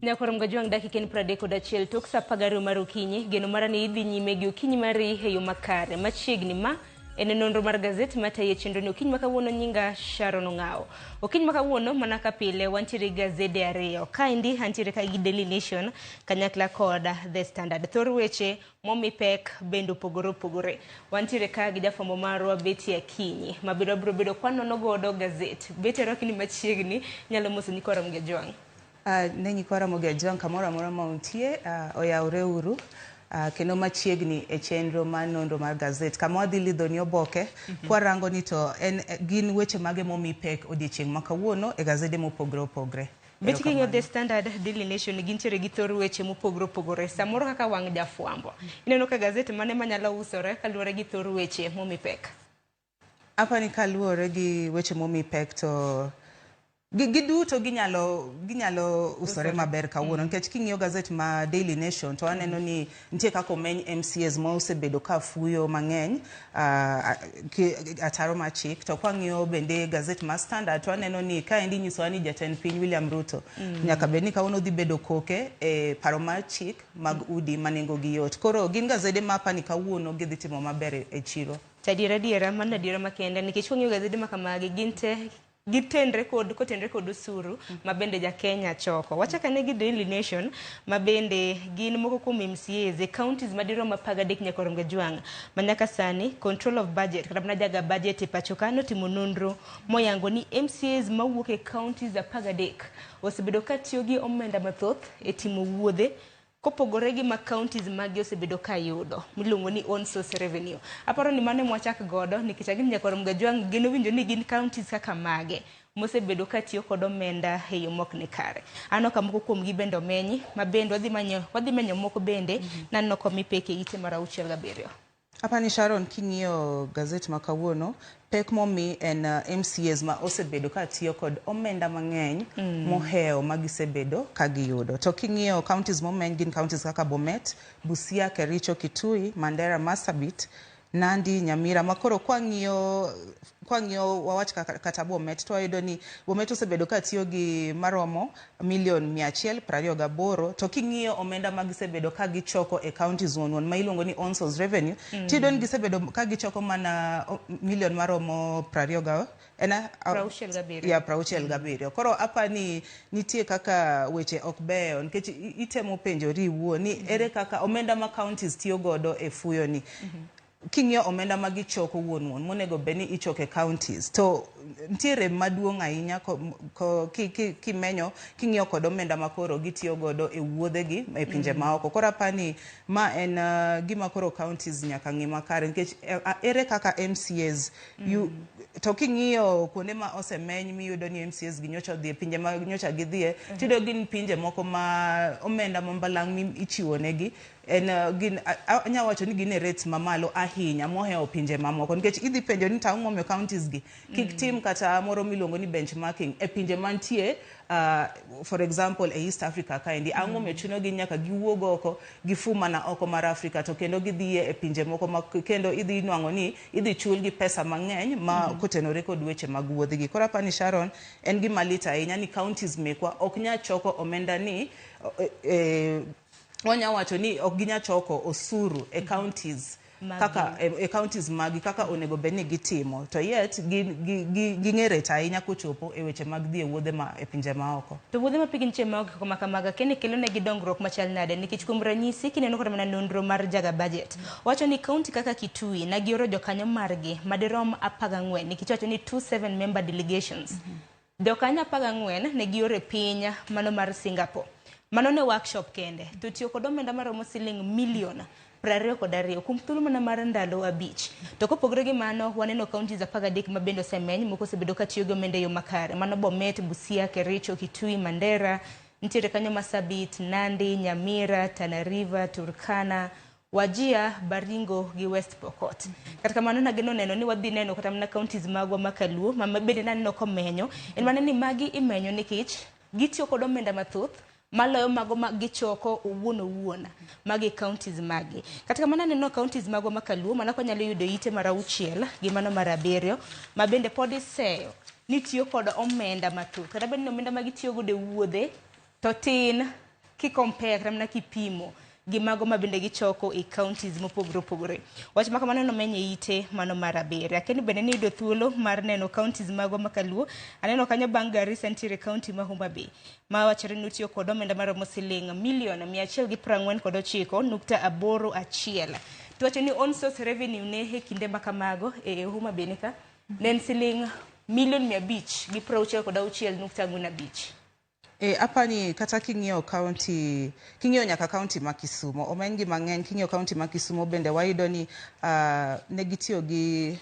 Nyakoro mgajuang' dakika en piero adek kod achiel tok sa apar gariyo mar okinyi. Geno mara ni idhi nyime gi okinyi mari e yo makare. Machiegni ma En e nonro mar gazet matayo chenroni okinyi ma kawuono nyinga Sharon Ong'awo. Okinyi ma kawuono mana ka pile wantiere gi gazede ariyo. Kaendi antiere ka gi Daily Nation kanyakla kod The Standard. Thor weche momi pek bende opogore opogore. Wantiere ka gi jafwambo marwa Betty Akinyi ma biro bedo kwanono godo gazet. Betty arwaki ni machiegni nyalo mosoni korom gi ojwang'. Uh, ne nyikwa Ramogi Ajwang' kamoro amora ma untie, uh, oyawre uru uh, kendo machiegni e chenro mar nonro mar gazet kama wadhi lidho ni oboke mm -hmm. kwarango ni to en, gin weche mage momi pek odiechieng' ma kawuono e gazede mopogre opogre. Bet king'e The Standard, Daily Nation gintiere gi thor weche mopogore opogore samoro kaka wang' jafwambo. Ineno ka gazet mane manyalo usore kaluwore gi thor weche momi pek. Apani kaluwore gi weche momi pek to giduto gi ginyalo ginyalo usore maber kawuono nikech mm. king'iyo gazet ma Daily Nation to aneno ni nitie kaka omeny MCAs ma osebedo ka fuyo mang'eny uh, ataro ma chik to kwang'iyo bende gazet ma Standard to aneno ni ka endi nyisowa ni jatend piny William Ruto mm. nyaka bed ni kawuono dhi bedo koke e paro ma chik mag mm. udi ma nengo gi yot koro gin gazede ma apani kawuono gidhi timo maber e chiro To adiera adiera, mano adiera makende nikech wang'iyo gazede ma kamagi gin te gitenre kod kotenre kod osuru ma bende ja Kenya choko. Wachaka ne gi Daily Nation ma bende gin moko kuom MCAs e counties madirom apar gadek nyaka orom gajwang' ma nyaka sani control of budget kata mana jaga budget e pacho ka notimo nonro moyango ni MCAs mawuok e counties apar gadek osebedo ka tiyo gi omenda mathoth e timo wuodhe kopogore gi ma counties magi osebedo ka yudo miluongo ni own source revenue. Aparo ni mano emwachak godo nikech ang'e ni Nyakorom Gajwang' geno winjo ni gin counties kaka mage mosebedo ka tiyo kod omenda e yo mok ni kare. Aneno ka moko kuom gi bende omenyi, ma bende wadhi manyo wadhi menyo moko bende, naneno komi peke ite mar auchiel gabiriyo. Apani Sharon king'iyo gazet ma kawuono pek momi en uh, MCAs ma osebedo ka tiyo kod omenda mang'eny mm. mohewo ma gisebedo ka giyudo. To king'iyo counties momeny gin counties kaka Bomet, Busia, Kericho, Kitui, Mandera, Marsabit, Nandi, Nyamira ma koro kwang'iyo kwang'iyo wawach kata Bomet to wayudo ni Bomet osebedo ka tiyo gi maromo million mia achiel prariyo gaboro to king'iyo omenda ma gisebedo ka gichoko e counties wonwon ma iluongo ni onsos revenue mm. tiyudo ni gisebedo ka gichoko mana million maromo prariyo ga en ya prauchiel gabiriyo koro apa ni nitie kaka weche ok beyo nikech itemo penjori iwuo ni mm-hmm. ere kaka omenda ma counties tiyo godo e fuyo ni mm-hmm. King'iyo omenda ma gichoko wuon wuon monego bed ni ichoko e counties to nitie rem maduong' ahinya kimenyo king'iyo kod omenda ma koro gitiyo godo e wuodhegi e pinje mm. maoko. Koro aparo ni ma en uh, gima koro counties nyaka ng'i makare nikech eh, ere kaka MCAs mm. to king'iyo kuonde ma osemeny miyudo ni MCAs gi nyocha odhi e pinje ma nyocha gidhie mm-hmm. tiyudo gin pinje moko ma omenda mambalang' ichiwo negi En, uh, gin, a- a- anya wacho ni gin e rates mamalo ahinya mohewo pinje mamoko nikech idhi penjo ni to ang'o momiyo counties gi kik tim kata moro miluongo ni benchmarking e pinje mantie uh, for example e east africa kaendi ang'o momiyo chuno gi nyaka giwuog oko gifu mana oko mar africa to kendo gidhiye e pinje moko ma kendo idhi nwang'o ni idhi chulgi pesa mang'eny ma kotenore kod weche mag wuodhigi koro apani sharon en gima lit ahinya ni counties mekwa ok nya choko omenda ni e, e, wanya wacho ni ok ginya choko osuru e counties Magi. kaka e, e counties magi kaka onego bed ni gitimo to yet gin- gi- gi- ging'e rech ahinya kochopo e weche mag dhi e wuodhe ma e pinje maoko To wuodhe ma pigi nitie maonge koko ma kamaga kende kelo negi dongruok machal nade nikech kuom ranyisi kineno kata mana nonro mar jaga budget wacho ni kaunti kaka Kitui na gioro jokanyo margi madirom apar gang'wen nikech wacho ni 27 member delegations Jokanyo apar gang'wen ne gioro e piny mano mar Singapore. Mano ne workshop kende, to tiyo kod omenda maromo siling milion prariyo kod ariyo kuom thuolo mana mar ndalo abich. To kopogre gi mano, waneno counties apar gadek ma bende osemeny, moko osebedo ka tiyo gi omenda e yo makare. Mano Bomet, Busia, Kericho, Kitui, Mandera, nitiere kanyo Masabit, Nandi, Nyamira, Tana River, Turkana, Wajir, Baringo gi West Pokot. Kata kamano nageno neno ni wadhi neno kata mana counties magwa ma Kaluo ma ma bende naneno komenyo. En mana ni magi imenyo nikech gitiyo kod omenda mathoth maloyo mago ma gichoko owuon owuon magi counties magi. Kata kamano aneno counties magwa ma Kaluo mana kwanyalo yudo ite mar auchiel gi mano mar abiriyo ma bende pod iseyo ni tiyo kod omenda mathoth. Kata bed ni omenda ma gitiyo godo e wuodhe To tin ki compare kata mana kipimo gi mago ma bende gichoko e counties mopogore opogore. Wach ma kamano nomeny e ite mano mar abiriyo. Akia ni bende niyudo thuolo mar neno counties mago ma kaluo. Aneno kanyo bang' Garissa nitiere county ma Homa Bay ma wachore ni otiyo kod omenda maromo siling' milion mia achiel gi piero ang'wen kod ochiko nukta aboro achiel. To wacho ni on source revenue ne e kinde ma kamago e Homa Bay ni ka ne en siling' milion mia abich gi piero auchiel kod auchiel nukta ang'wen abich. E, apani kata king'iyo county, king'iyo nyaka county ma Kisumo, omeny gi mang'eny, king'iyo county ma Kisumo bende wayudo ni uh, ne gitiyo gi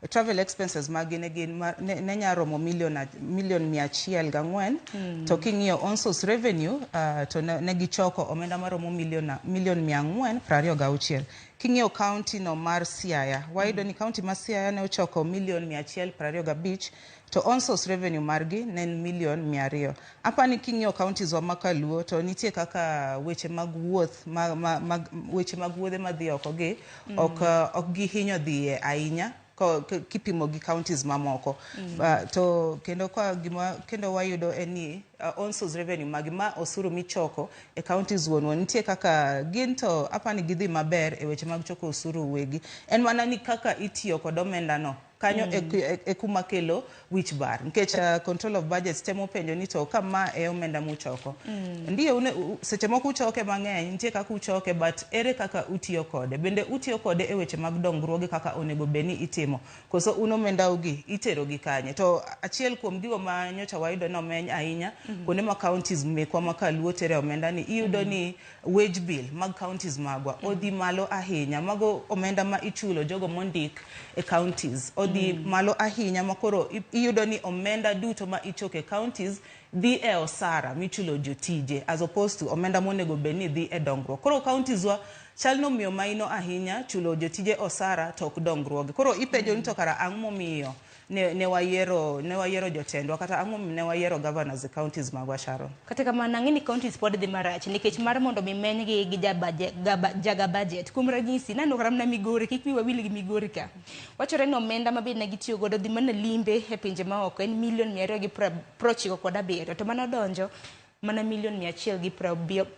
travel expenses magi ne gin ma- ne ne nya romo million a- million mia achiel gang'wen mm. to king'iyo on source revenue uh, to ne, ne gichoko omenda maromo million a- million mia ang'wen prariyo gauchiel king'iyo county no mar Siaya wayudo ni county ma Siaya ne ochoko million mia achiel prariyo gabich to onsource revenue margi ne en million mia ariyo. Apani king'iyo counties wa ma Kaluo to nitie kaka weche mag wuoth ma, ma, ma, weche mag wuodhe madhi oko gi mm. ok, uh, ok gihinyo dhiye ahinya kipimo gi counties mamoko mm. uh, to kendo kwa gima kendo wayudo en ni uh, on source revenue magi ma osuru michoko e counties wuonwa nitie kaka gin to apani gidhi maber e weche mag choko osuru wegi en mana ni kaka itiyo kod omendano kanyo mm. e, e, e kuma kelo wich bar nikech uh, control of budgets temo penjo ni to ka ma e omenda muchoko mm. ndiye une, u, seche moko uchoke mang'eny nitie kaka uchoke but ere kaka utiyo kode bende utiyo kode e weche mag dongruoge kaka onego bed ni itimo koso un omendaugi itero gi kanye to achiel kuom gigo ma nyocha wayudo nomeny ahinya mm -hmm. kuonde ma counties mekwa ma kaluo tere omenda ni iyudo mm -hmm. ni Wage bill mag counties magwa odhi malo ahinya. Mago omenda ma ichulo jogo mondik e counties odhi mm. malo ahinya ma koro iyudo ni omenda duto ma ichoko e counties dhi e osara michulo jotije as opposed to omenda monego bed ni dhi e dongruok. Koro counties wa chal ni omiyo maino ahinya chulo jotije osara to ok dongruoge. Koro ipenjo ni to kara ang' momiyo ne, ne wayiero ne wayiero jotendwa kata ang'o momiyo ne wayiero governors e counties magwa Sharon Kata kamano, ang'e ni counties pod dhi marach nikech mar mondo mi menygi gi jabaje- gaba- jaga budget. Kuom ranyisi, naneno kata mana Migori, kik wi wawil gi Migori ka. Wachore ni omenda ma be ne gitiyo godo dhi mana limbe e pinje maoko en milion mia ariyo gi pra- prochiko kod abiriyo to mane odonjo mana milion mia achiel gi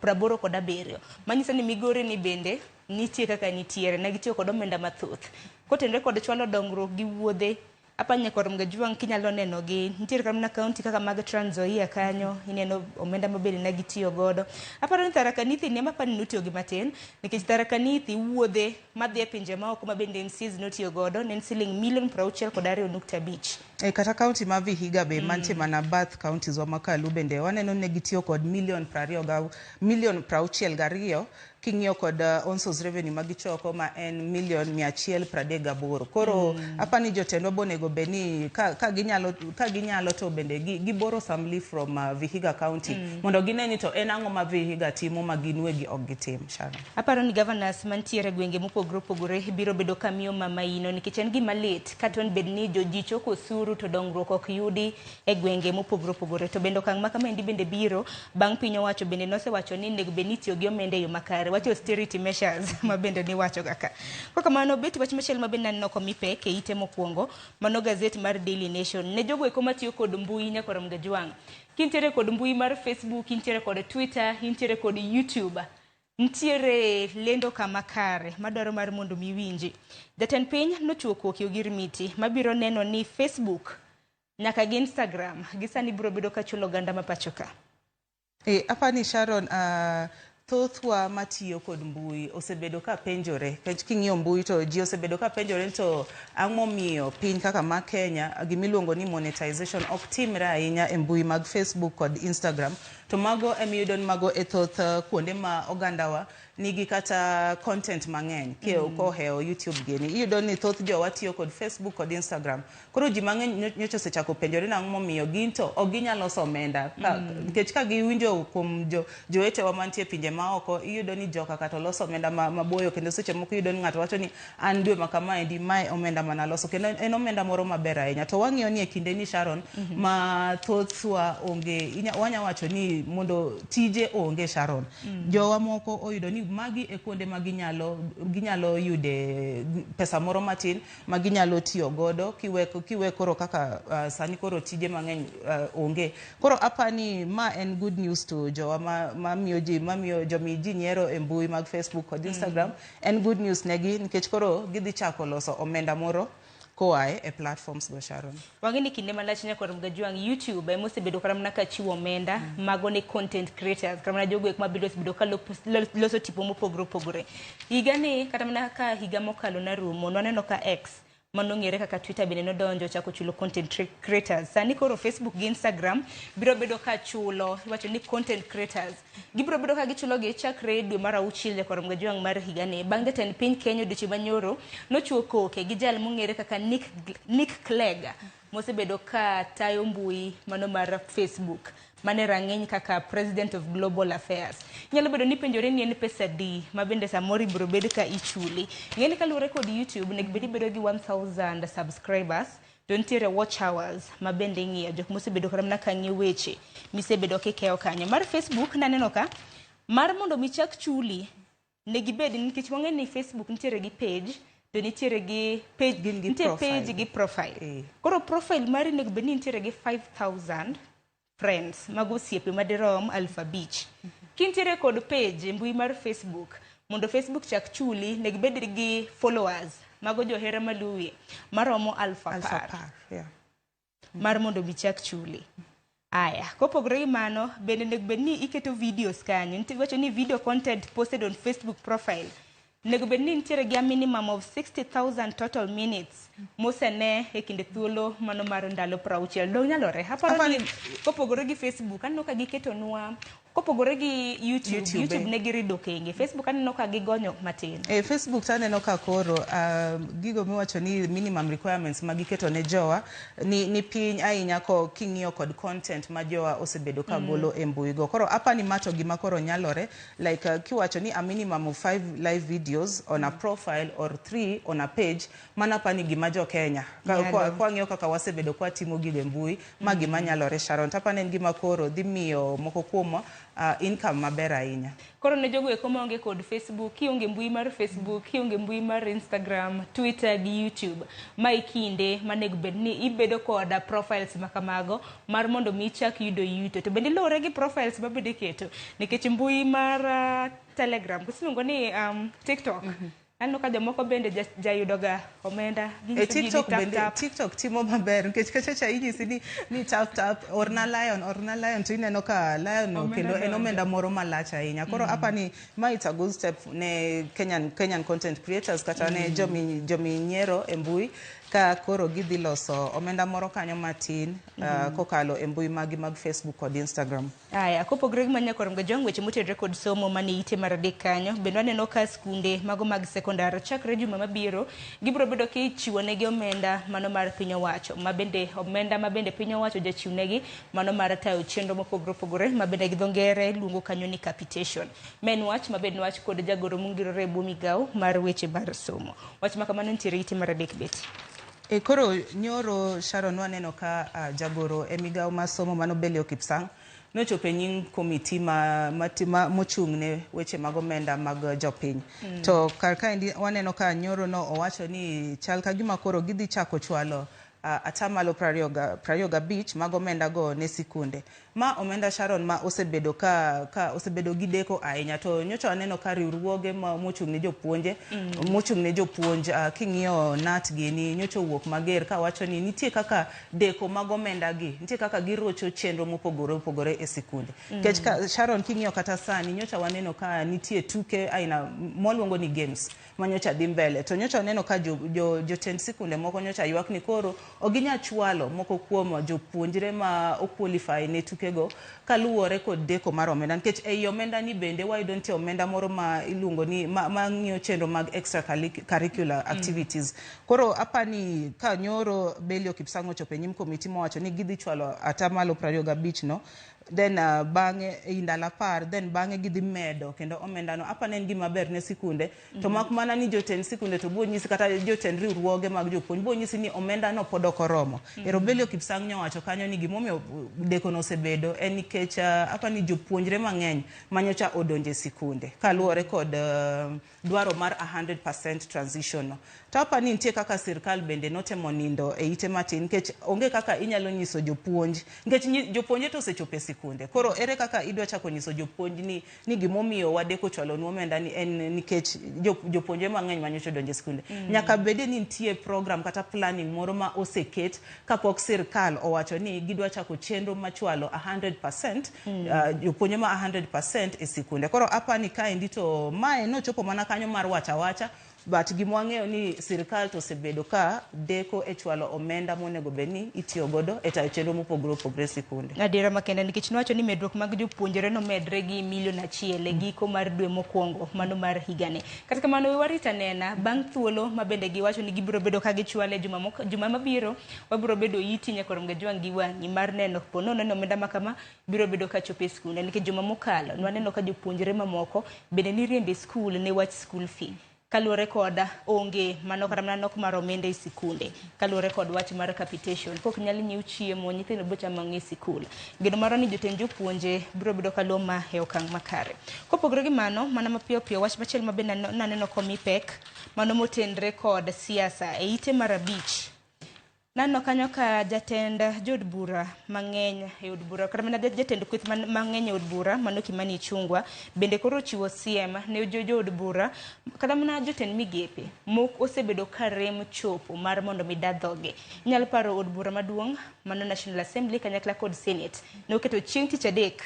praboro kod abiriyo manyiso ni migori ni bende nitie kaka nitiere ne gitiyo kod omenda mathoth kotenre kod chwalo dongruok gi wuodhe apanya kod mgajuang kinyalo neno gi nitiere kata mana kaunti kaka mag Trans Nzoia kanyo ineno omenda mabende ne gitiyo godo aparo ni Tharaka Nithi ne mapani notiyo gi matin nikech Tharaka Nithi wuodhe madhi e pinje maoko ma bende NCAs notiyo godo ne en siling milion prauchiel kod ariyo nukta abich. E kata kaunti ma Vihiga be mm. mantie mana bath kauntis wa makalu bende waneno ne gitiyo kod milion prariyo ga milion prauchiel gariyo king'iyo kod uh, onsos revenue ma gichoko ma en milion mia achiel pradek gaboro koro mm. apa ni jotendwa bonego be ni ka, ka, ginyalo, ka ginyalo to bende giboro samli from uh, Vihiga county mm. mondo gine ni to en ang'o ma Vihiga timo ma gin wegi ok gitim Sharon. Aparo ni governors mantiere gwenge mopogore opogore biro bedo ka miyo mama ino nikech en gima lit ka ton bed ni joji choko osuru to dongruok ok yudi e gwenge mopogore opogore. To bende okang' ma kama endi bende biro bang' piny owacho bende nosewacho ni nego bed ni itiyo gi omenda e yo makare. Wach austerity measures ma bende niwacho ga ka. Kwa kamano bet wach machielo ma bende naneno komi pek e ite mokwongo mano gazet mar Daily Nation. Ne jogo eko matiyo kod mbui nyakoro Mgajwang'. Kintiere kod mbui mar Facebook, intiere kod Twitter, intiere kod YouTube. Ntiere lendo ka makare madwaro mar mondo mi winji. Jatend piny nochuo koki ogirimiti mabiro neno ni Facebook nyaka gi Instagram gisani biro bedo ka chulo oganda ma pachoka. E, apani Sharon uh, thothwa matiyo kod mbui osebedo ka penjore kech king'iyo mbui to ji osebedo ka penjore to ang'omiyo piny kaka ma Kenya gimiluongo ni monetization ok timre ahinya e mbui mag Facebook kod Instagram To mago emiyudo ni mago e thoth uh, kuonde ma ogandawa nigi kata content mang'eny ke mm. kohewo youtube gini iyudo ni thoth jowa tiyo kod facebook kod instagram koro ji mang'eny nyocha osechako penjore nang'o momiyo gin to ok ginyal loso omenda mm. nikech mm. ka giwinjo kuom jo, jowetewa mantie pinje maoko iyudo ni joka kata loso omenda maboyo ma kendo seche moko iyudo ni ng'ato wacho ni an dwe ma kamaendi mae omenda mana loso kendo en omenda moro maber ahinya to wang'iyo ni e kinde ni Sharon mm -hmm. ma thothwa onge wanya wacho ni mondo tije onge Sharon mm -hmm. jowa moko oyudo ni magi e kuonde ma ginyalo ginyalo yude pesa moro matin ma ginyalo tiyo godo kiweko kiwe koro kaka uh, sani koro tije mang'eny uh, onge koro apa ni ma en good news to jowa ma, ma miyo ji ma miyo jomi ji nyiero e mbui mag Facebook kod Instagram mm -hmm. En good news negi nikech koro gidhi chako loso omenda moro koae e platforms go Sharon. Wang'e ni kinde malach nyaka rom gajwang' YouTube ema osebedo kata mana ka chiwo omenda mm. mago ne content creators kata mana jogo ema biro osebedo ka loso tipo mopogore opogore. Higa ni kata mana ka higa mokalo narumo naneno ka X ma nong'ere kaka Twitter bende nodonjo ochako chulo content cre- creators. Sani koro Facebook gi Instagram biro bedo ka chulo, iwacho ni content creators. Gibiro bedo ka gichulogi chakre dwe mar auchiel nyaka romga jwang' mar higani. Bang' jatend piny Kenya odiochieng' manyoro nochuo koke gi jal mong'ere kaka Nick, Nick Clegg mosebedo ka tayo mbui mano mar Facebook mane rang'iny kaka President of Global Affairs. Nyalo bedo ni penjore ni en pesa di ma bende samoro ibiro bed ka ichuli. Ng'eni kaluwore kod YouTube nego bed ibedo gi 1000 subscribers to nitiere watch hours ma bende ing'iyo jok mosebedo kata mana ka ng'iyo weche misebedo kikeyo kanyo. Mar Facebook naneno ka mar mondo mi chak chuli ne gibed nikech wang'e ni facebook nitiere gi page to nitiere gi page Gin gi nitiere profile. page gi profile Eh. koro profile mari nego bed ni nitiere gi 5000 friends mago osiepe madirom aluf abich kintiere kod page e mbui mar facebook mondo facebook chak chuli nego bed gi followers mago johera maluwi maromo aluf Alpha apar Park, yeah. mar mondo mi chak chuli aya kopogore gi mano bende onego bed ni iketo videos kanyo nitie wacho ni video content posted on facebook profile onego bed ni nitiere gi a minimum of 60000 total minutes mosene e kinde thuolo mano mar ndalo prauchiel dong nyalore aparo ni kopogore gi facebook aneno ka giketonwa Kopogore gi YouTube, YouTube, YouTube eh. ne girido kenge. Facebook aneno ka gigonyo matin. E Facebook to aneno ka koro uh, gigo miwacho ni minimum requirements ma giketo ne jowa ni, ni piny ahinya ko king'iyo kod content ma jowa osebedo ka mm. golo mm. e mbui go. Koro apa ni mato gima koro nyalore like uh, kiwacho ni a minimum of five live videos on mm. a profile or three on a page Mano apani gima jo Kenya kwang'iyo kaka wasebedo kwatimo gigo e mbui ma mm. gima nyalore Sharon to apani en gima koro dhi miyo moko kuomwa uh, income maber ahinya. Koro ne jogo eko maonge kod Facebook, kionge mbui mar Facebook, kionge mbui mar Instagram, Twitter gi YouTube, ma ikinde manego bed ni ibedo kod profiles ma kamago mar mondo mi ichak yudo yuto. To bende luwore gi profiles ma bende keto nikech mbui mar uh, Telegram, kusiluongo ni um, TikTok. Mm -hmm. Aneno ka jomoko bende ja- jayudoga omenda E ginyiso ji ni TikTok tap bende tap. TikTok timo maber nikech kachacha inyisi ni ni tap tap orna lion orna lion to ineno ka lion no Omenda kendo en donjo. omenda moro malach ahinya. Koro apa ni ma it's a good step ne Kenyan Kenyan content creators kata ne jomi jomi nyiero e mbui ka koro gidhi loso omenda moro kanyo matin ah, kokalo e mbui magi mag Facebook kod Instagram. Aya, kopogre gi ma nyaka warom jong weche motedre kod somo mane ite mar adek kanyo, bende waneno ka skunde mago mag sekondar chakre juma mabiro gibiro bedo kichiwo negi omenda mano mar piny owacho, ma bende omenda ma bende piny owacho jachiw negi mano mar tayo chenro mopogore opogore ma bende gi dho ngere luongo kanyo ni capitation. Ma en wach ma bende wach kod jagoro mongirore e bwo migawo mar weche mar somo. Wach ma kamano nitiere ite mar adek beti. E koro nyoro Sharon waneno ka uh, jagoro e migawo ma somo mano Belio Kipsang nochopo e nying komiti ma, ma, ma mochung' ne weche mag omenda mag jopiny mm. to kar kaendi waneno ka nyoro no owacho ni chal ka gima koro gidhi chako chwalo uh, atamalo prariyo gabich mag omenda go ne sikunde Ma omenda Sharon ma osebedo ka ka osebedo gi deko ahinya to nyocha waneno ka riwruoge ma mochung' ne jopuonje mm. mochung' ne jopuonj uh, king'iyo nat gini nyocha owuok mager ka wacho ni nitie kaka deko mag omenda gi nitie kaka girocho chenro mopogore opogore e sikunde mm. kech ka, Sharon king'iyo kata sani nyocha waneno ka nitie tuke aina moluongo ni games ma nyocha dhi mbele to nyocha oneno ka jotend jo, jo jotend sikunde moko nyocha ywak ni koro ok ginya chwalo moko kuom jopuonjre ma okwalify ne tukego kaluwore kod deko mar omenda nikech ei omenda ni bende wayudo nitie omenda moro ma iluongo ni ma, ma ng'iyo chenro mag extra curricular activities mm. koro apa ni ka nyoro Belio Kipsang ochopo e nyim komiti mowacho ni gidhi chwalo atamalo 25 no then uh, bang'e ei ndalo apar then bang'e gidhi medo kendo omendano apa ne en gima ber ne sikunde to mm -hmm. mak mana ni jotend sikunde to biro nyisi kata jotend riwruoge mag jopuonj biro nyisi ni omendano pod ok oromo mm -hmm. erobelio kipsang nyo wacho kanyo ni gimomiyo dekono osebedo en nikech uh, apa ni jopuonjre mang'eny manyocha odonje sikunde kaluwore kod uh, dwaro mar a hundred percent transition no. To apa ni nitie kaka sirkal bende notemo nindo e ite matin nikech onge kaka inyalo nyiso jopuonj nikech nyi- jopuonje to osechopo e sikunde. Koro ere kaka idwa chako nyiso jopuonj ni ni gimomiyo wadeko chwalo nu omenda ni en nikech jo- jopuonje mang'eny manyocha odonjo e sikunde. Mm. Nyaka bede ni nitie program kata planning moro ma oseket Kapok sirkal owacho ni gidwa chako chenro machwalo 100% mm. uh, jopuonjre ma 100% e sikunde. Koro apani kaendi to mae nochopo mana kanyo mar wacha wacha but gima wang'eyo ni sirkal to osebedo ka deko e chwalo omenda monego bed ni itiyo godo e tayo chenro mopogore opogore e sikunde. Adiera makende nikech nowacho ni medruok mag jopuonjre nomedre gi milion achiel e giko mar dwe mokwongo mano mar higani. Kata kamano, we warit anena. Bang' thuolo ma bende giwacho ni gibiro bedo ka gichwale e juma, mok- juma mabiro, wabiro bedo iti nyaka rom ga jwang' gi wang'i mar neno po nono ni omenda ma kama biro bedo ka chopo e skunde. Nikech juma mokalo, nwaneno ka jopuonjre mamoko bende niriembo e skul ne wach skul fee. Kaluwore koda, onge mano kata mana nok mar omenda e sikunde. Kaluwore kod wach mar capitation, kok nyal nyiew chiemo, nyithindo biro chamo ang'o e sikul? Geno marwa ni jotend jopuonje biro bedo ka luwo ma e okang' makare. Kopogore gi mano, mana mapiyo piyo, wach machielo ma be nano- naneno komi pek, mano motenre kod siasa e ite mar abich. Naneno kanyo ka jatend jood bura mang'eny e od bura kata mana jatend kweth man- mang'eny e od bura mano Kimani Ichung'wa bende koro ochiwo siem ne jo- jood bura Kata mana jotend migepe mok osebedo ka rem chopo mar mondo mi da dhoge. Inyalo paro od bura maduong' mano National Assembly kanyakla kod Senate noketo chieng' tich adek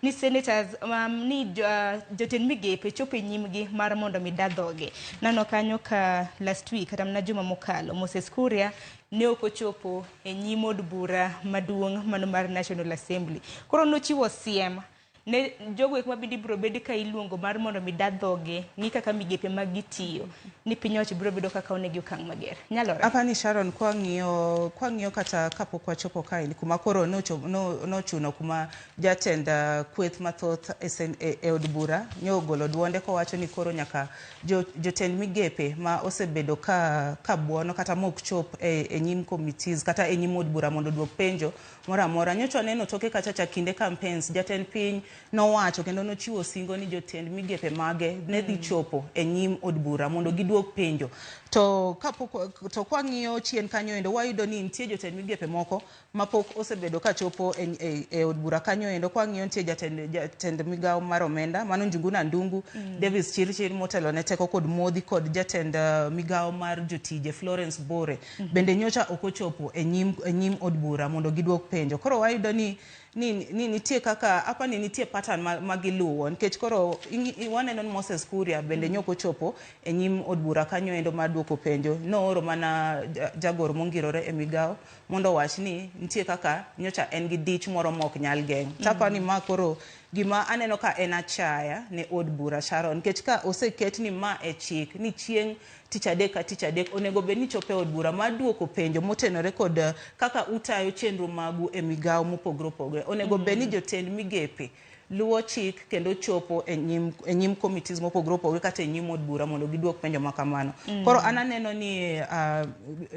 ni senators um, ni jo, uh, jotend migepe chopo e nyimgi mar mondo mi da dhoge. Nano kanyo ka last week kata mana juma mokalo Moses Kuria ne ok ochopo e nyim od bura maduong' mano mar National Assembly. Koro nochiwo siem ne jogo eko mabende ibiro bed ka iluongo mar mondo mi da dhoge ng'i kaka migepe mag gitiyo ni piny owacho biro bedo kaka onegi okang' mager nyalore apani sharon kwang'iyo kwang'iyo kata kapok wachopo kaeni kuma koro nocho- no- nochuno kuma jatend ah, kweth mathoth e sen- e e od bura nyogolo duonde kowacho ni koro nyaka jo- jotend migepe ma osebedo ka ka buono kata mok chop e e nyim committees kata e nyim od bura mondo oduok penjo moro amora. Nyocha waneno toke kacha cha kinde campaigns, jatend piny nowacho kendo nochiwo singo ni jotend migepe mage ne dhi chopo e nyim od bura mondo giduok penjo. To kapok to kwang'iyo chien kanyo endo wayudo ni nitie jotend migepe moko mapok osebedo ka chopo e, e, e od bura kanyo endo kwang'iyo nitie jatend, jatend migawo mar omenda mano Njuguna Ndungu, mm. Davis Chirchir motelo ne teko kod modhi kod jatend uh, migawo mar jotije Florence Bore. bende nyocha ok ochopo e nyim, e nyim od bura mondo gidwok penjo. Koro wayudo ni, ni, ni nitie kaka apa ni nitie pattern ma, ma giluwo nikech koro ingi- i- waneno ni Moses Kuria bende nyok ochopo e nyim od bura kanyo endo mar dwoko penjo. Nooro mana ja- jagoro mongirore e migawo mondo owach ni nitie kaka nyocha en gi dich moro ma ok nyal geng'. Tapa ni ma koro gima aneno ka en achaya ne od bura Sharon nikech ka oseket ni ma e chik ni chieng' Tich adek ka tich adek onego bed ni ichopo e od bura mar duoko penjo motenore kod eh, kaka utayo chenro magu e migawo mopogore opogore. Onego bed ni jotend migepe luwo chik kendo chopo e nyim, e nyim committees mopogore opogore kata e nyim od bura mondo giduok penjo ma kamano. Koro an aneno ni ah,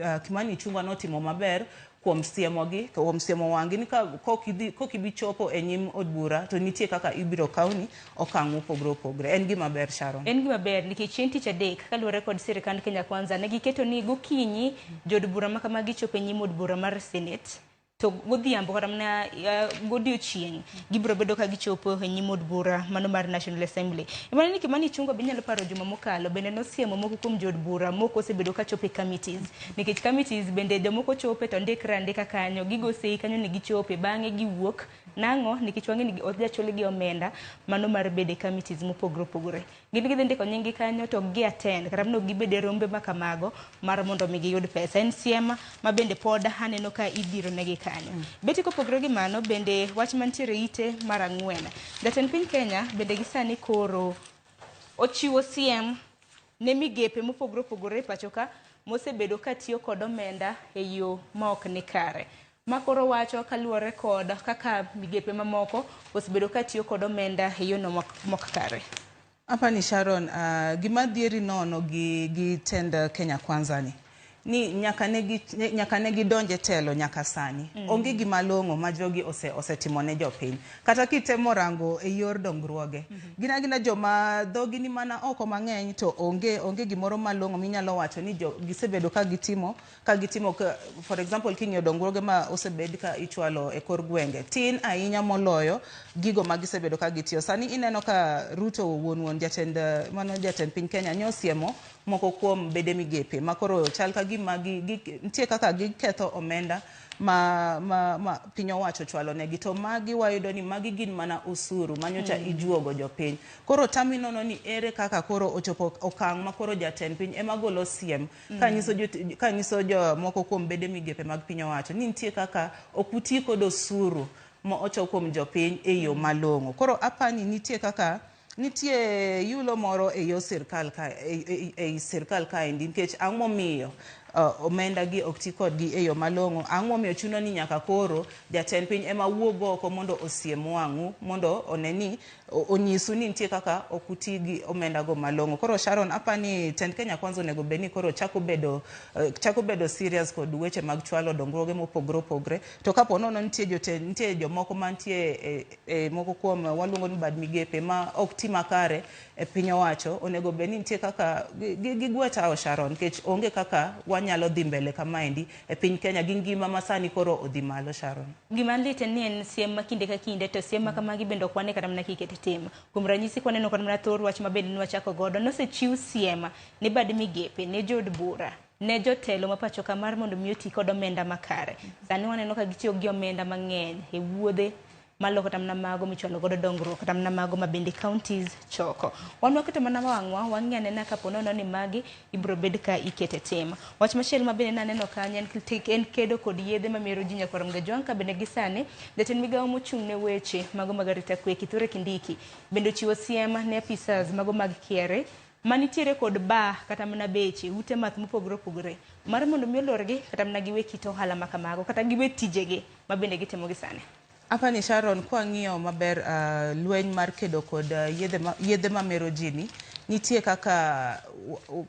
ah, Kimani Ichung'wa notimo maber kuom siemogi to kuom siemo wang'gi ni ka kok idhi kok ibi chopo e nyim od bura to nitie kaka ibiro kawni okang' mopogore opogore en gima ber Sharon En gima ber nikech chieng' tich adek kaluwore kod sirikand Kenya Kwanza ne giketo ni gokinyi jood bura ma kama gichopo e nyim od bura mar Senate to godhiambo kata mana eh, godiochieng' gibiro bedo ka gichopo e nyim od bura mano mar National Assembly. Emane ni Kimani Ichung'wa be inyalo paro juma mokalo bende nosiemo moko kuom jood bura moko osebedo ka chopo e committees Nikech committees bende jomoko chope to ndikre andika kanyo, gigo sei kanyo ni gichope, bang'e giwuok. Nang'o? Nikech wang'e ni ok jachulgi omenda mano mar bedo e committees mopogore opogore. Gin gidhi ndiko nyinggi kanyo to ok gi attend kata mana ok gibed e rombe ma kamago mar mondo mi giyud pesa. En siem ma bende pod aneno ka idhiro negi kanyo. Betty kopogore gi mano bende wach mantiere e ite mar ang'wen. Jatend piny Kenya bende gi sani koro ochiwo siem ne migepe mopogore opogore e pachoka mosebedo ka tiyo kod omenda e yo ma ok ni kare. Ma koro wacho kaluwore kod kaka migepe mamoko osebedo ka tiyo kod omenda e yono mok kare. Apani Sharon, uh, gima dhieri nono gi, gi tend Kenya Kwanza ni. ni nyaka ne gi nyaka ne gidonje telo nyaka sani mm. onge gima long'o ma jogi ose osetimo ne jopiny kata kitemo rango e yor dongruoge mm -hmm. gina gina joma dhogi ni mana oko mang'eny to onge onge gimoro malong'o minyalo wacho ni jo gisebedo ka gitimo ka gitimo ka, for example king'iyo dongruoge ma osebed ka ichwalo e kor gwenge tin ahinya moloyo gigo ma gisebedo ka gitiyo sani ineno ka Ruto wuon wuon jatend mano jatend piny Kenya nyosiemo moko kuom bede migepe ma koro chal ka gima gi, gi, nitie kaka giketho omenda ma, ma, ma piny owacho chwalo negi to magi wayudo ni magi gin mana usuru manyocha mm. ijuogo jopiny koro tami nono ni ere kaka koro ochopo okang' ma koro jatend piny ema golo siem mm. kanyiso kanyiso jomoko kuom bede migepe mag piny owacho ni nitie kaka ok uti kod osuru ma ochok kuom jopiny e yo mm. malong'o koro apani nitie kaka Nitie yulo moro e yo sirkal ka ei sirkal kaendi nikech ang'o momiyo uh, omenda gi ok ti kodgi e yo malong'o ang'o momiyo chuno ni nyaka koro jatend piny ema wuog oko mondo osiem wang'u mondo one ni onyisu ni nitie kaka ok uti gi omenda go malong'o koro Sharon apa ni tend Kenya kwanza onego bed ni koro chako bedo uh, chako bedo serious kod weche mag chwalo dongruoge mopogre opogre to kapo nono nitie jotend nitie jomoko mantie e, e, moko kuom waluongo ni bad migepe ma ok ti makare e piny owacho onego bed ni nitie kaka gigwe tawo Sharon nikech onge kaka wanyalo dhi mbele kamaendi e piny Kenya gi ngima ma sani koro odhi malo Sharon. Gima lit en ni en siem ma kinde ka kinde to siem ma kamagi bende ok wane kata mana kiket tim. Kuom ranyisi kwaneno kata mana thor wach ma bende nwachako godo nosechiw siem ne bad migepe ne jood bura ne jotelo ma pachoka mar mondo mi oti kod omenda makare. Sani waneno ka gitiyo gi omenda mang'eny e wuodhe malo kata mana mago michwalo godo dongruok kata mana mago ma bende counties choko. Wan waketo mana wang'wa wang'e anena kapo nono ni magi ibiro bed ka ikete tim. Wach machielo ma bende naneno kanyo en kit- en kedo kod yedhe ma mero ji nyaka romga jwang' ka bende gisani jatend migawo mochung' ne weche mago mag arita kwe Kithure Kindiki bende ochiwo siem ne apisas mago mag KRA Manitiere kod bar kata mana beche, ute math mopogore opogore mar mondo mi olorgi kata mana giwe kit ohala ma kamago kata giwe tijegi ma bende gitimo gi sani. Apani Sharon kwang'iyo maber lweny mar kedo kod yedhe mamero ji ni, nitie kaka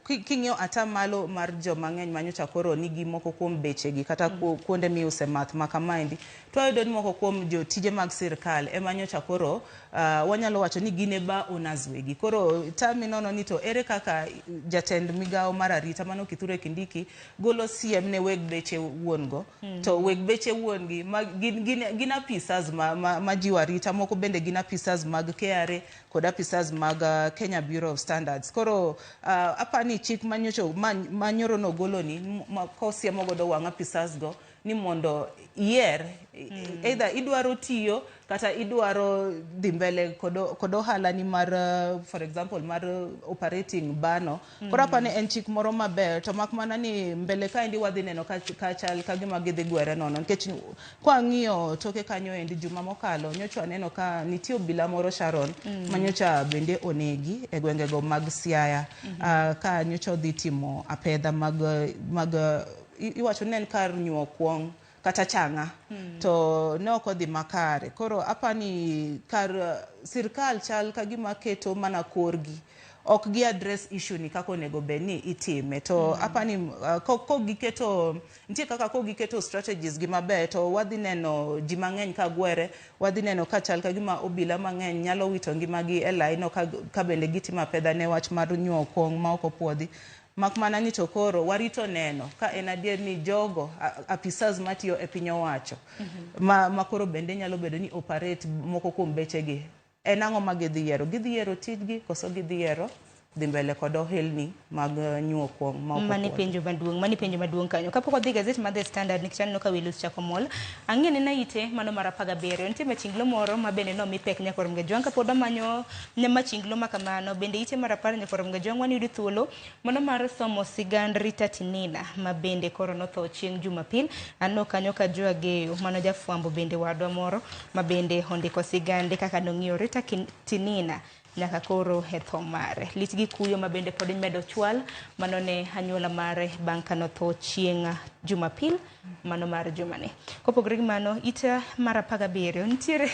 king'iyo ata malo mar jomang'eny manyocha koro nigi moko kuom bechegi kata kuonde miuse math ma kamaendi. To wayudo ni moko kuom jotije mag sirkal ema nyocha koro uh, wanyalo wacho ni gin e ba owners wegi. Koro tami nono ni to ere kaka jatend migawo mar arita mano Kithure Kindiki golo siem ne weg beche wuon go. Mm -hmm. To weg beche wuon gi ma, gin, gin, gin apisas ma, ma, ma jiwo arita moko bende gin apisas mag KRA kod apisas mag uh, Kenya Bureau of Standards. Koro uh, apani chik manyocho manyoro nogoloni ma, kosiemo godo wang' apisas go ni mondo iyer mm. either idwaro tiyo kata idwaro dhi mbele kod ohalani mar uh, for example mar uh, operating bano mm. koro apani en chik moro maber to mak mana ni mbele kaendi wadhi neno kachal ka gima gidhi gwere nono nikech kwang'iyo toke kanyo endi juma mokalo nyocha aneno ka nitie obila moro sharon mm. ma nyocha bende onegi e gwengego mag siaya mm -hmm. uh, ka nyocha odhi timo apedha mag, mag uh, i- iwacho ni en kar nyuo kuong kata changa to ne ok odhi makare koro apani kar eh, sirkal chal ka gima keto mana korgi ok gi address issue ni kaka onego bed ni itime to apani uh, ko ko giketo nitie kaka ko giketo strategies gi maber to wadhi neno ji mang'eny ka gwere wadhi neno ka chal ka gima obila mang'eny nyalo wito ngimagi e laino ka, ka bende gitimo apedha ne wach mar nyuo kuong ma ok opuodhi Mak mana ni to koro warito neno ka en adier ni jogo apisas matiyo e piny owacho ma, ma koro bende nyalo bedo ni operate moko kuom bechegi en ang'o ma gidhi yiero? Gidhi yiero tijgi koso gidhi yiero dhi mbele kod ohelni mag eh, nyuo kuong' ma ok mani opuodhi? penjo maduong' mani penjo maduong' kanyo kapok wadhi gazet mar the standard nikech aneno ka wilus chako mol ang'e ni naite mano mar apar gabiriyo nitie machinglo moro ma bende nomi pek nyaka oromga jwang' kapod wamanyo Ne machinglo ma kamano, bende ite ma rapar nyakwaromga jwang'wa ni yud thuolo mano mar somo sigand Rita Tinina ma bende koro notho chieng' Jumapil. Anno kanyo ka Jo Ageyo mano jafwambo bende wadwa moro ma bende ondiko sigande kaka nong'iyo Rita Tinina nyaka koro e tho mare. Lit gi kuyo ma bende pod medo chwal mano ne anyuola mare bang' ka notho chieng' Jumapil. mano mar jumani. Kopogore gi mano, it mar apar gabiriyo nitiere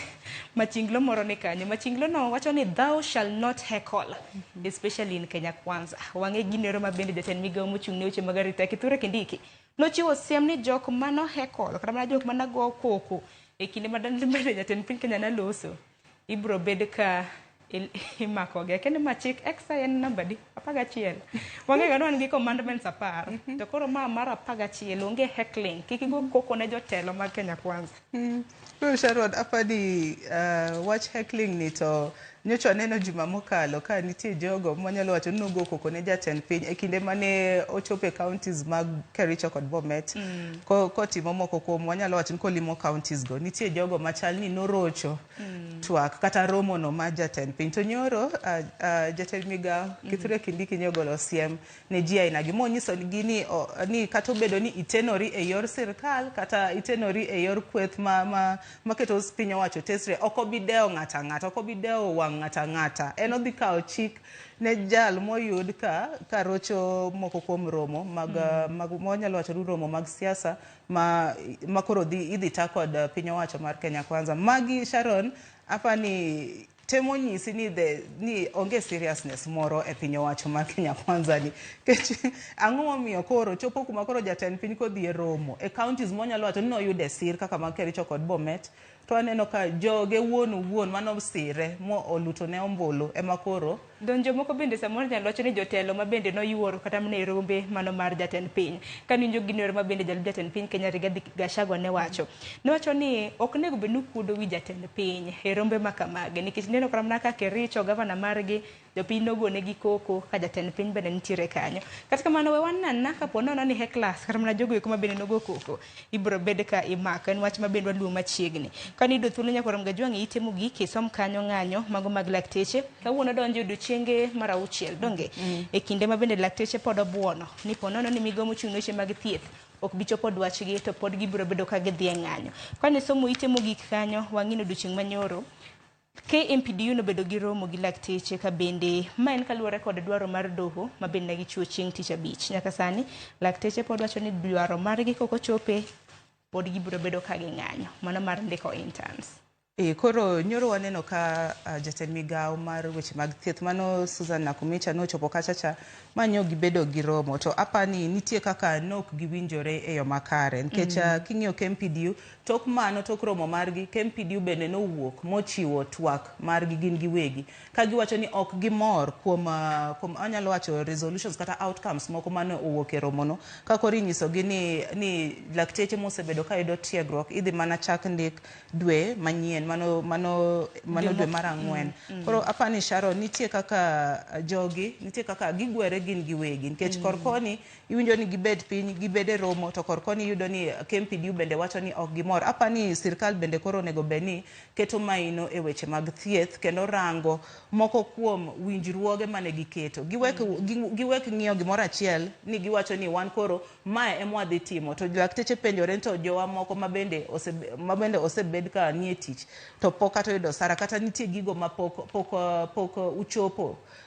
machinglo moro ni kanyo. Machinglono wacho ni thou shall not heckle, especially in Kenya Kwanza. Wang'e ginero ma bende jatend migawo mochung' ne weche mag arita Kithure Kindiki nochiwo siem ni jok mano heckle kata mana jok mana go koko e kinde ma dan- ma jatend piny Kenya naloso ibro bed ka imakogi akende ma chik exercise en namba di apar gachiel wang'ega ni wan gi commandments apar mhm. to koro ma mar apar gachiel onge heckling kik igo koko ne jotelo mag kenya kwanza mm. koro sharod apani uh, wach heckling ni to nyocha aneno juma mokalo ka nitie jogo manyalo wacho ni nogo koko ne jatend piny e kinde mane ochopo e counties mag kericho kod bomet mm. kotimo moko kuom wanyalo wacho ni kolimo counties go nitie jogo machal ni norocho mm. twak kata romo no ma jatend piny to nyoro uh, uh, jatend migawo mm. kithure kindiki nyogolo siem ne ji aina gi monyiso gi ni, oh, ni kata obedo ni itenori e yor sirkal kata itenori e yor kweth ma, ma, ma keto piny owacho tesre ok obi dewo ng'ata ng'ata ok obi dewo wang' ng'ata ng'ata en odhi kawo chik ne jal moyud ka ka rocho moko kuom romo mag mm. mag wanyalo wacho romo mag siasa ma ma koro dhi idhi ta kod uh, piny owacho mar Kenya Kwanza magi Sharon apa ni temo nyisi ni the ni onge seriousness moro e piny owacho mar Kenya Kwanza ni kech ang'o momiyo koro chopo kuma koro jatend piny kodhi e romo e counties monyalo wacho ni noyude sir kaka mag Kericho kod Bomet To aneno ka joge wuon owuon mane osire mo olutone ombulu ema koro. Don jomoko bende samoro nyalo wacho ni jotelo ma bende noyuoro kata mne rombe mano mar jatend piny. Kane winjo gini ero ma bende jalup jatend piny Kenya Rigathi Gachagua ne wacho. Ne wacho ni ok onego bed ni ukuodo wi jatend piny e rombe ma kamagi nikech ineno kata mana ka Kericho, Governor margi jopiny nogonegi koko ka jatend piny bende nitiere kanyo kata kamano we wanana kapo nono ni heklas kata mana jogo eko mabende nogo koko ibiro bed ka imako en wach mabende waluwo machiegni kane yudo thuolo nyaka rom gajwang'e ite mogik isom kanyo ng'anyo mago mag lakteche kawuono donjo odiochienge mar auchiel donge mm. e kinde mabende lakteche pod obuono ni po nono ni migomo chung' weche mag thieth ok bi chopo dwachgi to pod gibiro bedo ka gidhi e ng'anyo kane somo ite mogik kanyo wang'ino odiochieng' manyoro KMPDU nobedo gi romo gi lakteche ka bende ma en kaluwore kod dwaro mar doho ma bende ne gichiwo chieng' tich abich. Nyaka sani lakteche pod wacho ni dwaro margi kok ochope pod gibiro bedo ka ging'anyo mano mar ndiko interns. E, koro nyoro waneno ka uh, jatend migawo mar weche mag thieth mano Susan Nakumicha nochopo kachacha ma nyo gibedo gi romo to apani nitie kaka nok giwinjore e yo makare nikech mm. uh, king'iyo KMPDU Tok mano, tok romo margi, KMPDU bende nowuok mochiwo twak margi gin giwegi ka giwacho ni ok gimor kuom kuom anyalo wacho resolutions kata outcomes moko mane owuok e romono ka koro inyisogi ni ni lakteche mosebedo ka yudo tiegruok idhi mana chak ndik dwe manyien mano mano mano dwe mar ang'wen. Koro apa ni Sharon nitie kaka jogi nitie kaka gigwere gin giwegi nikech kor koni iwinjo ni gibet piny gibed e romo to kor koni iyudo ni KMPDU bende wacho ni ok gimor. Apa ni sirkal bende koro onego bed ni keto maino e weche mag thieth kendo rango moko kuom winjruoge mane giketo. Giwek, mm. gi, giwek ng'iyo gimoro achiel ni giwacho ni wan koro mae ema wadhi timo. To lakteche penjore to jowa moko mabende ose, mabende osebed ka nie tich to pok kata oyudo sara kata nitie gigo ma pok, pok, pok uchopo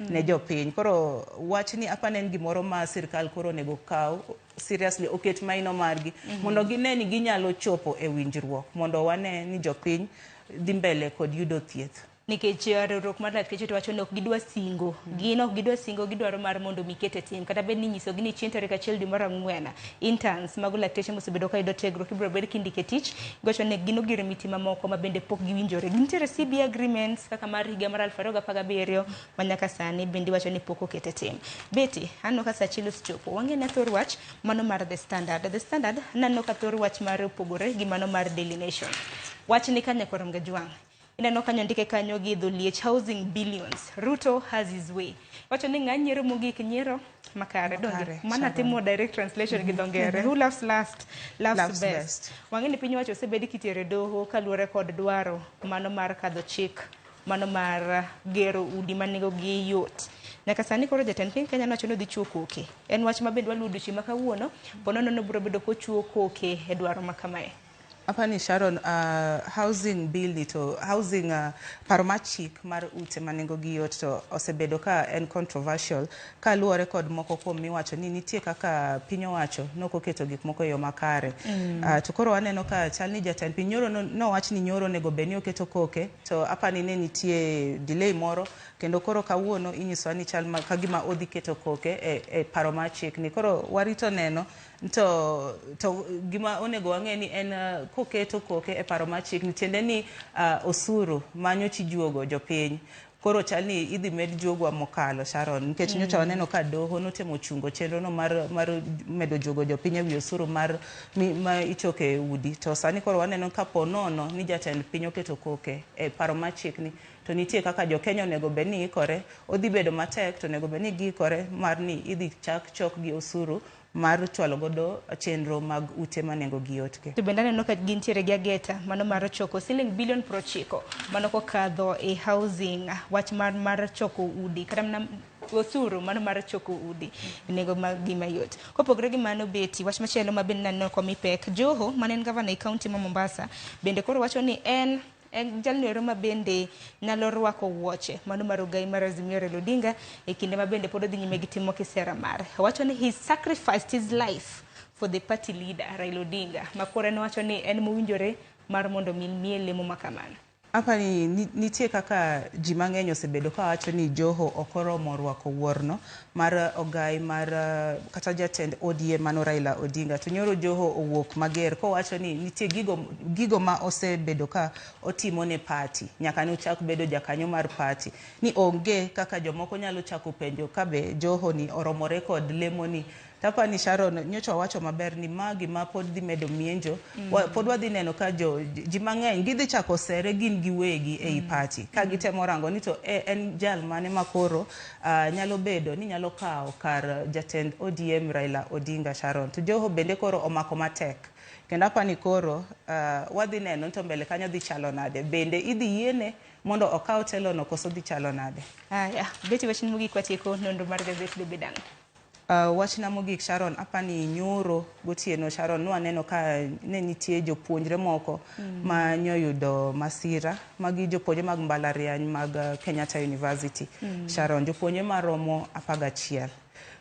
ne jopiny. Koro wachni apani en gimoro ma sirkal koro onego kaw seriously oket maino margi mondo gine ni ginyalo chopo e winjruok mondo wane ni jopiny dhi mbele kod yudo thieth. nikech eh, riwruok mar lakteche to wacho ni ok gidwa singo gin ok gidwa singo gidwaro mar mondo mi ket e tim kata bed ni inyisogi ni chieng' tarik achiel dwe mar ang'wen Interns, mago lakteche mosebedo ka yudo tiegruok ibiro bed kindiko e tich gocho ne gin ogirimiti mamoko ma bende pok giwinjore. Nitiere CB agreements kaka mar higa mar 2017 ma nyaka sani bende iwacho ni pok oket e tim. Betty, aneno ka sa chilo osechopo. Wang'e ne thor wach mano mar The Standard. The Standard naneno ka thor wach mare opogore gi mano mar Daily Nation. Wach ni ka nyako Ramgajwang'. ineno kanyo ndike kanyo gi dho liech housing billions ruto has his way wacho ni ng'a nyiero mogik nyiero makare donge Makare, mana sabana. timo direct translation gi dho ngere who laughs last laughs, Laughs best, best. wang'e ni piny owacho osebed kitere doho kaluwore kod dwaro mano mar kadho chik mano mar uh, gero udi ma nengogi yot nyaka sani koro jatend piny kenya nowacho ni odhi chuo koke en wach ma bende waluwo odiochieng' ma kawuono ponono nobiro bedo kochuo koke e dwaro ma kamae Apani Sharon, uh, housing bill ni to housing uh, paro mar chik mar ute ma nengogi yot to osebedo ka en controversial ka luwore kod moko kuom miwacho ni nitie kaka piny owacho nok oketo gik moko e yo makare mm. uh, to koro waneno ka chal ni jatend piny nyoro nowach ni nyoro onego bed ni oketo koke to apani ne nitie delay moro kendo koro kawuono inyisowa ni chal ka gima odhi keto koke e, e paro mar chik ni koro warito neno to to gima onego wang'e ni en uh, koketo koke e paro mar chik ni tiende ni uh, osuru ma nyocha ijuogo jopiny koro chal ni idhi med juogwa mokalo Sharon nikech nyocha waneno ka doho notemo chungo chenrono mar, mar medo juogo jopiny e wi osuru mar mi- ma ichoko e udi to sani koro waneno ka po nono ni jatend piny oketo koke e paro mar chik ni to nitie kaka jokenya onego bed ni ikore odhi bedo matek to onego bed ni giikore mar ni idhi chak chok gi osuru mar chwalo godo chenro mag ute ma nengo gi yot ke. To bende aneno ka gintiere gi ageta mano mar choko siling bilion prochiko mano kokadho e housing wach mar mar choko udi kata mana osuru mano mar choko udi e nengo ma gima yot. Kopogre gi mano beti wach machielo ma bende naneno komi pek Joho mane en gavana e kaunti ma Mombasa bende koro wacho ni en En jalni ero ma bende nyalo rwako wuoche mano ma rugai mar Azimio Raila Odinga e kinde ma bende pod odhi nyime gi timo kisera mare. Owacho ni he sacrificed his life for the party leader Raila Odinga ma koro en owacho ni en mowinjore mar mondo mi miye lemo ma kamano. Apa ni ni- nitie kaka ji mang'eny osebedo kawacho ni Joho ok oromo rwako wuorno, mar ogai mar kata jatend ODM mano Raila Odinga to nyoro Joho owuok mager kowacho ni nitie gigo, gigo ma osebedo ka otimo ne pati nyaka ne ochak bedo jakanyo mar pati ni onge kaka jomoko nyalo chako penjo kabe Joho ni oromore kod lemo ni Tapa ni Sharon nyocha wacho maber ni ma gima pod dhi medo mienjo mm. wa, pod wadhi neno ka jo ji mang'eny gidhi chako sere gin giwegi ei mm. pati ka gitemo rango ni to e, en jal mane makoro Uh, nyalo bedo ni nyalo kawo kar jatend ODM Raila Odinga Sharon to Joho bende koro omako matek kendo apani koro uh, wadhi neno to mbele kanyo dhi chalo nade bende idhi yiene mondo okaw telono koso dhi chalo nade? Aya, beti wachni mogik watieko nonro mar gazet Debe Dang'. Wachna mogik Sharon, apani nyoro gotieno Sharon nwaneno ka ne nitie jopuonjre moko mm. ma nyoyudo masira magi jopuonjre mag mbalariany mag uh, Kenyatta University mm. Sharon jopuonjre maromo apagachiel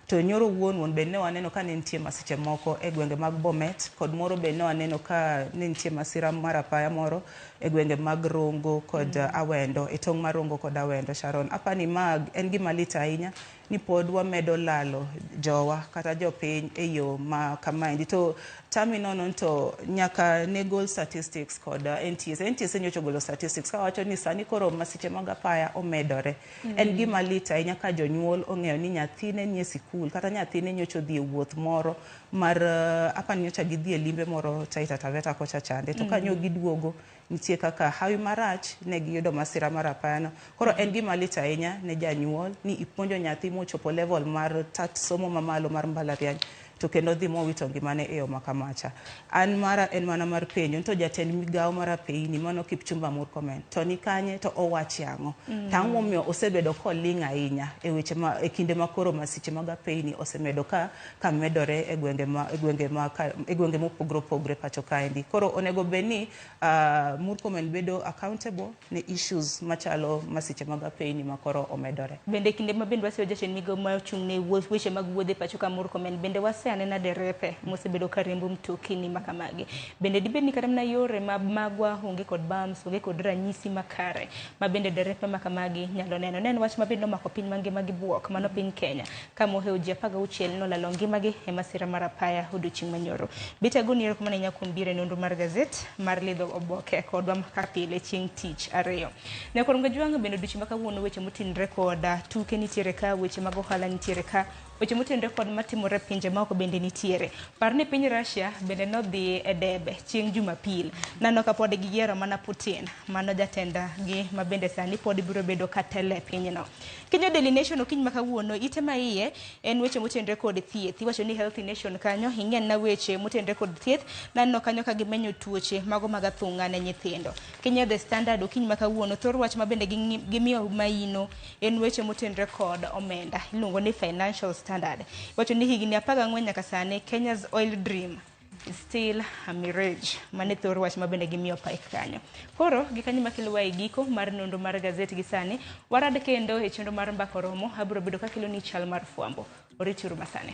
to nyoro wuon wuon be ne waneno ka ne nitie masiche moko e gwenge mag Bomet kod moro be ne waneno ka ne nitie masira mar apaya moro e gwenge mag Rongo kod mm. Awendo e tong' mar Rongo kod Awendo Sharon apani mag en gima lit ahinya ni pod wamedo lalo jowa kata jopiny e yo ma kamaendi to tami nono ni to nyaka ne gol statistics kod uh, NTSA. NTSA nyocha ogolo statistics kawacho ni sani koro masiche mag apaya omedore. En gima lit ahinya ka jonyuol ong'eyo ni nyathine nie sikul kata nyathine nyocha odhi e wuoth moro mar uh, apa ni nyocha gidhi e limbe moro Taita Taveta kocha chande to ka nyo giduogo Nitie kaka hawi marach ne giyudo masira mar apayano. Koro en gima lit ahinya ne janyuol ni ipuonjo nyathi mochopo level mar tat somo mamalo mar mbalariany to kendo odhi mowito ngimane e yo makamacha. An mara en mana mar penjo ni to jatend migawo mar apeini mano Kipchumba Murkomen to ni kanye to owache ang'o? To ang'o momiyo osebedo koling' ahinya e weche ma e kinde ma koro masiche mag apeini osemedo ka ka medore e gwenge ma e gwenge ma ka, e gwenge mopogore opogore pacho kaendi. Koro onego bed ni uh, Murkomen bedo accountable ne issues machalo masiche mag apeyni ma koro omedore. Bende kinde ma bende waseyo jatend migawo ma ochung' ne wuo- weche mag wuodhe e pacho ka Murkomen, bende wase anena derepe mosebedo ka riembo mtokini ma kamagi. Bende dibed ni kata mana yore ma magwa onge kod bams, onge kod ranyisi makare ma bende derepe ma kamagi nyalo neno. Ne en wach ma bende nomako piny mangima gi buok, mano piny Kenya. ka moheo ji 16 nolalo ngimagi e masira mar apaya odiochieng' manyoro. Bitego ni erokamano ahinya kuom biro e nonro mar gazet mar lidho oboke kodwa kaka pile chieng' tich ariyo. Ne koro gajwang' bende odiochieng' ma kawuono weche motinre kod tuke nitiere ka, weche mag ohala nitiere ka, weche motenore kod matimore pinje maoko bende nitiere. Par ni piny Russia bende nodhi e debe chieng' Jumapil. Nano ka pod giyiero mana Putin, mano jatendgi ma bende sani pod biro bedo ka telo e pinyno. Kinyo Daily Nation okinyi ma kawuono ite ma iye en weche motenre kod thieth. Iwacho ni Healthy Nation kanyo ing'en na weche motenre kod thieth nanno kanyo ka gimenyo tuoche mago mag athung'a ne nyithindo. Kinyo The Standard okinyi ma kawuono thor wach ma bende gimiyo maino en weche motenre kod omenda. Iluongo ni Financial Standard. Iwacho ni higni 14 nyaka sani Kenya's Oil Dream still a mirage mane thor wach ma bende gimiyo pike kanyo koro gi kanyo makelowa e giko mar nonro mar gazet gi sani warad kendo e chenro mar mbako romo abiro bedo kakelo ni chal mar fwambo orituru masane